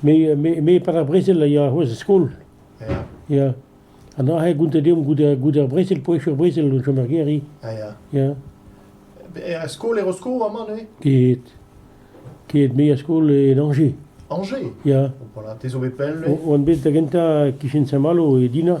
Me, me, me par ar brezel a ya c'hoazh er skol. Ya. Ya. An aze gount deomp goude, goude ar brezel, poesh ur brezel o chom er gêr-i. Ah, ya. Ya. Er skol er Rosko amañ, ne? Ket. Ket, me er skol en Angers. Angers? Ya. Voilà, te zo bet pell, ne? On bet da gentañ kichen Saint-Malo e Dina.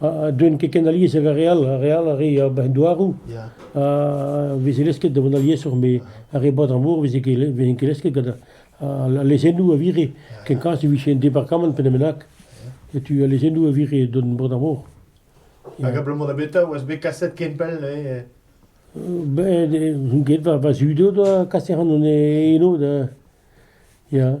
ha deuent ket ken alies ag ar re all. Ar re all a ree ar bac'h-douaroù ha veze lesket da vont aliesoc'h met ar re Baden-Mor veze ket ket lesket gant al lezennoù a vire. Kenkoulz e vije un departamant pe bennak, setu al lezennoù a vire d'an Baden-Mor. Hag abalamour da betra oas bet kaset ken pell eh? Ben, get va, va zud o doa kaset an eno da... Ya.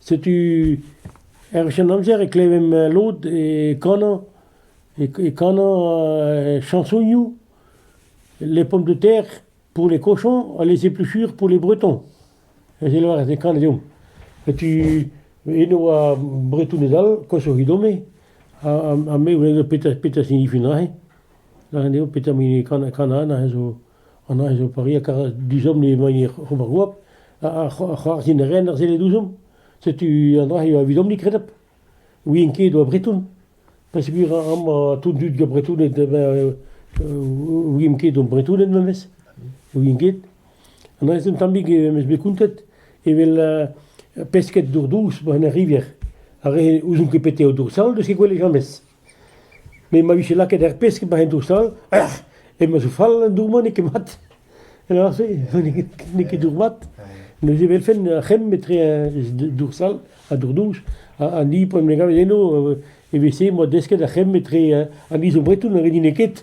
Setu er Senamzer e klevemp lod e kanañ e kanañ chansonioù les pommes de terre pour les cochons ha les épluchures pour les bretons. Eus e lavarez e kanañ deomp. Setu eno ar Bretoned all, koshoc'hit ome, ha me 'welez petra signifie neuze. Lâret eo petra 'mp hini kanañ aze zo. An añjopari a kar dizhomm emañ ober goap, a c'hoarzhin a ran ar sellet ouzhomp. Setu an dra-se evidomp ni kredapl. ouien ket oa breton. Peogwir amañ tout an dud zo bretoned ouien ket o bretoned memes, ouien ket. An dra-se un tammig em eus bet kontet evel pesked dour dous 'ba 'n ar rivière, ar re ouzon ket petra eo dour sall, n'eus ket gwell james. Me ma vije lakaet ar pesk emañ en dour-stal, eh emeus fall an dour-mañ n'eo ket mat. Lâr-se n'eo ket dour mat. Neuze e welfen ar c'hemm etre dour-stal ha dour-douch. An hini p'en em gavet eno, evel-se 'moa desket ar c'hemm etre an izobretoù na redine ket.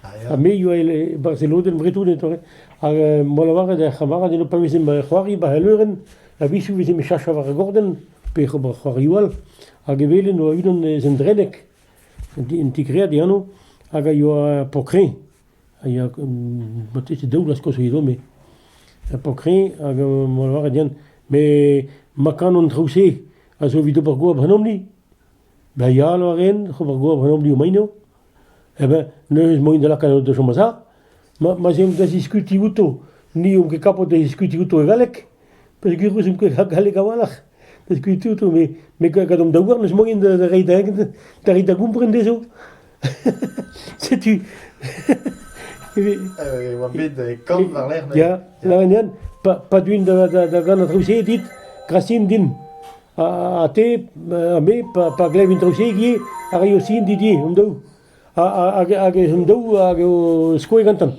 Ha me ioa e Barzelonen bretonet ore, hag em boa lavaret d'ar c'hamarad eno pa vezemp o c'hoari ba al leurenn, a-wechou vezemp o chascha war ar gorden, pe ober c'hoariou all, hag e welen oa unan eus an dreneg, un tigread e ano, hag a ioa pokrin, a ioa marteze daou vloaz koz edo, me. Pokrin, hag em boa lavaret d'ean, me ma kanan traou-se, a zo evit ober goap ganeomp-ni. Dayalo a ren, ober gober an oblioù maino. Eh ben, neuze emaint da lakaat da chom a-za. Ma, ma 'z eomp da ziskuti outo. Ni omp ket kapot da ziskuti outo e galleg, peogwir ouzh omp ket galleg a-walc'h da ziskuti outo, me me gadomp da ouarn n'eus manken da da reiñ da da reiñ da gompren dezho. setu e oa bet kaout war-lerc'h. Ya, lavenien, pa, pa duin da, da, da gant an traoù-se dit, grasin din. Ha, ha te, ha me, pa, pa glevin traoù-se a raio sin dit di, an daou. hag, hag an daou hag o skoe gantan.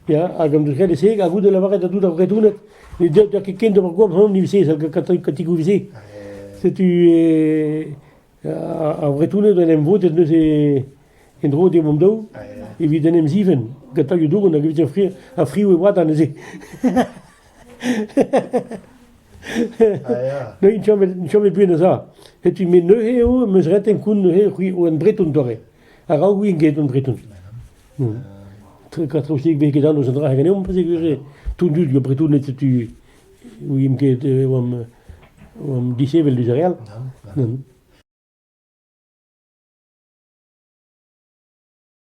Ya, hag an dousked e-se, hag goude lavaret da dout ar bretouned, ne deu da ket ken d'ober goap hon ni se, gant katigou se. Setu, e, Ar Vretoned en em vodet neuze en-dro d'e mamm-daou evit en em zivenn gant tailhoù dougan hag evit ar friv e oa da neuze. Neuze n'int chomet buan a-za. Setu me neuze eo em eus ret koun neuze c'hwi oan breton dore. Araok ouien get on breton. Katrousik bet ket an eus an dra ganeomp, pa se gwir eo. Tout dud yo bretoned setu ouien ket e oamp oamp disheñvel diouzh re all.